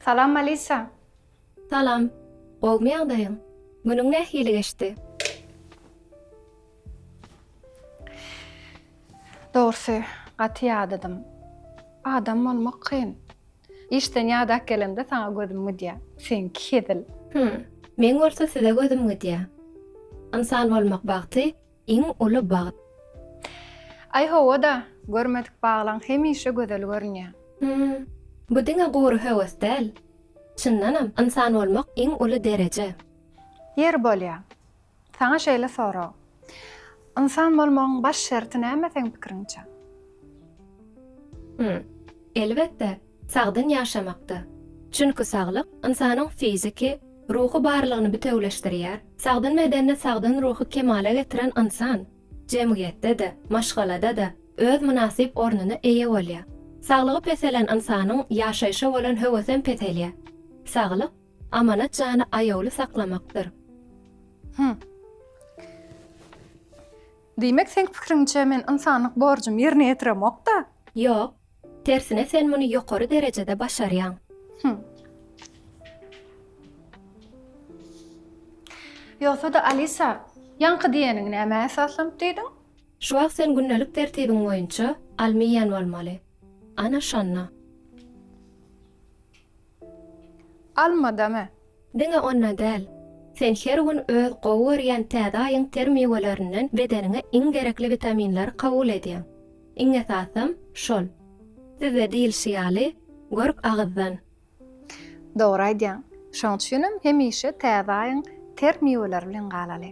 Salam Alisa. Salam. Gowmy ýagdaýyň? Günüň nähili geçdi? Dogrusy, gaty ýadadym. Adam bolmak kyn. Işden ýadap gelemde saňa gözüm gidýär. Seňki hezil. Hum, meň bolsa size gözüm gidýär. Ynsan bolmak bagty, Iň uly bagt. Aý hawa-da, görmedik baglaň hemişe gözel görünýär. Hum, bu diňe gury höwes däl. Çyndanam, ynsan bolmak iň uly dereje. Ýeri bolýa, saňa şeýle sorag. Ynsan bolmagyň baş şerti näme seň pikiriňçe? Hum, elbetde, Sagdyn ýaşamakda. Çünki saglyk ynsanyň fiziki, ruhy barlygyny bitewüleşdirýär. Sagdyn bedende sagdyn ruhy kemala getiren ynsan jemgyýetde-de, maşgalada-da öz mynasyp ornuna eýe bolýar. Saglygy peselen ynsanyň ýaşaýşa bolan höwesem peselýär. Saglyk, amanat jany aýawly saklamakdyr. Hum. Diýmek, seň pikiriňçe, men ynsanlyk borjumy ýerine ýetiremok-da? Ýok. Tersine sen muny ýokary derejede başarýaň. Hum. Ýogsa-da Alisa, ýaňky diýeniňi nämä esaslanyp diýdiň? Şu wagt sen gündelik tertibiň boýunça alma iýen bolmaly. Ana şonda. Alma-damy? Diňe onda däl, sen her gün öz gowy görýän täze aýyň ter miwelerinden bedeniňe iň gerekli witaminleri kabul edýäň. Iň esasam, şol. Sizde diýilşi ýaly, görk agyzdan. Dogry aýdýaň. Şoň üçinem hemişe täze aýyň ter miweleri bilen galaly.